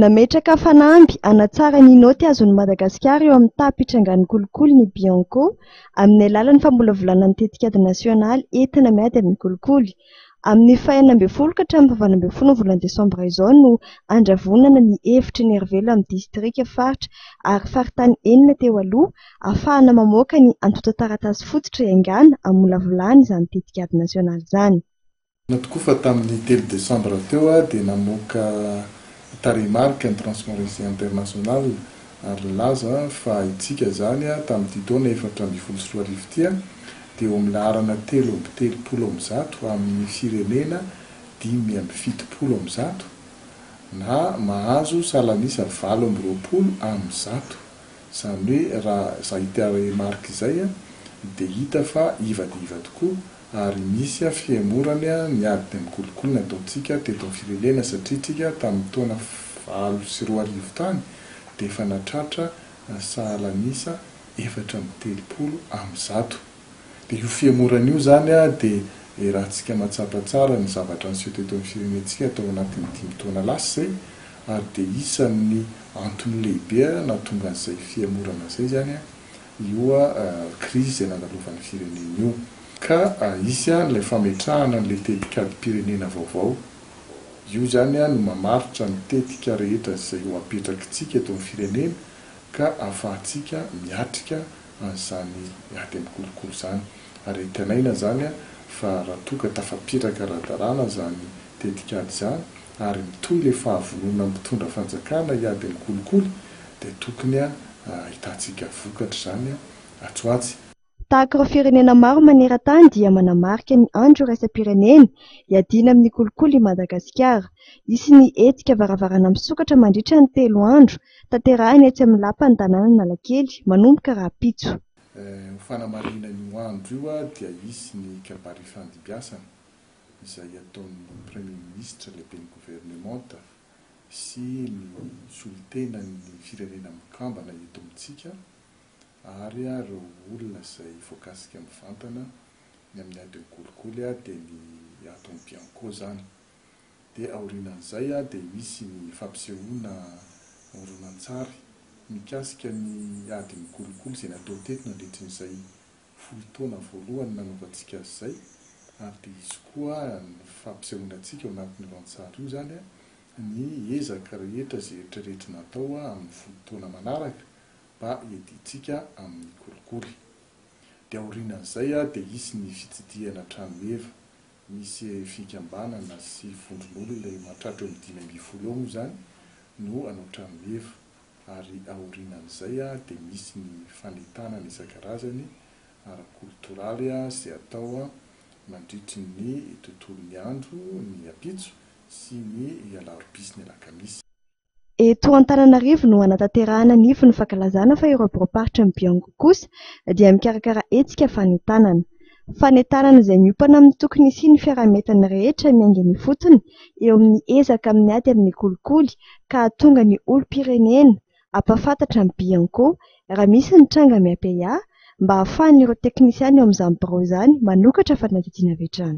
Nametraka fanamby hanatsara ny naoty azon'i Madagasikara eo amin'ny taha mpitrangan'ny kolikoly ny Bianco, amin'ny alalan'ny famolavolana ny tetikady nasionaly entina miady amin'ny kolikoly. Amin'ny faha enina ambin'ny folo ka hatramin'ny faha valo ambin'ny folon'ny volana desambra izao no handravonana ny efitry ny Herivelo amin'ny distrika, faritra ary faritany enina teo aloha, hahafahana mamoaka ny antontan-taratasy fototra iaingàna hamolavolana izany tetikady nasionaly izany. Marina tokoa fa tamin'ny telo desambra teo aho dia namoaka tarehimarika ny Transparency International ary nilaza fa itsika izany tamin'ity taona efatra ambin'ny folo sy roa arivo ity dia eo amin'ny laharana telo amby telopolo amin'ny zato amin'ny firenena dimy amby fitopolo amin'ny zato na mahazo salan'isa valo amby roapolo amin'ny zato. Izany hoe raha izay tarehimarika izay dia hita fa iva dia iva tokoa. ary misy a fihemorany a ny ady dia mikolokolo ny ataontsika teto amin'ny firenena satria tsika tamin'ny taona valo sy roa arivo tany dia efa natratra sahala an'isa efatra amby telopolo amin'ny zato dia io fihemorana io izany a dia iarahantsika mahatsapa tsara ny zavatra niseho teto amin'ny firenentsika tao anatin'ny dimy taona lasa izay ary dia isan'ny antony lehibe a nahatonga an'izay fihemorana izay izany a io krizy izay nandalovan'ny firenena io, ka hisy ilay fametrahana an'ilay tetikadim-pirenena vaovao. Io izany no mamaritra ny tetika rehetra izay ho apetrakitsika eto amin'ny firenena ka ahafahantsika miatrika an'izany ady amin'ny kolikoly izany. Ary antenaina izany fa raha toa ka tafapetraka ara-dalàna izany tetikady izany, ary mitohy le fahavonona mitondra fanjakana hiady amin'ny kolikoly dia tokony ahitantsika vokatra izany atsy ho atsy. Tahaka ireo firenena maro maneran-tany dia manamarika ny andro iraisam-pirenena hiadiana amin'ny kolikoly i Madagasikara. Hisy ny hetsika varavarana misokatra mandritra ny telo andro tanterahina etsy amin'ny lapan'ny tanànan'Analakely manomboka rahampitso. Ho fanamarihina io andro io dia hisy ny kabary ifandimbiasana izay ataon'ny Premier Ministra, Lehiben'ny Governemanta sy ny solontenan'ny Firenena Mikambana eto amintsika ary ireo olona izay voakasika mivantana ny amin'ny adin'ny kolikoly dia ny aton'ny Bianco izany. Dia aorianan'izay dia misy ny fampisehoana horonantsary mikasika ny adin'ny kolikoly izay natao teto nandritrin'izay folo taona voalohany nanaovantsika azy izay, ary dia izy koa ny fampisehoana antsika ao anatin'io rantsary io izany ny ezaka rehetra izay eritreretina atao amin'ny folo taona manaraka mba hiadiantsika amin'ny kolikoly. Dia aorianan'izay dia hisy ny fitsidihana hatrany meva, misy fikambanana sy vondron'olona mahatratra eo amin'ny dimy ambin'ny folo eo moa izany no hanao trano meva. ary aorianan'izay dia misy ny fanentanana isan-karazany ara-kolotoraly izay atao mandritry ny tontolon'ny andro ny ampitso sy ny alarobia sy ny alakamisy. Eto Antananarivo no hanatanterahana ny ivon'ny fankalazana fa ireo biraom-paritry ny Biongo kosa dia mikarakara hetsika fanentanana. fanentanana izay miompana amin'ny tokony hisian'ny fiaraha-mientana rehetra miaingana ifotony eo amin'ny ezaka amin'ny ady amin'ny kolikoly ka hahatonga ny olom-pirenena hampahafantatra ny Bianco raha misy ny tranga miampy-ahy mba hahafahan'ireo teknisiana eo amin'izany birao izany manokatra fanadihadiana avy hatrany.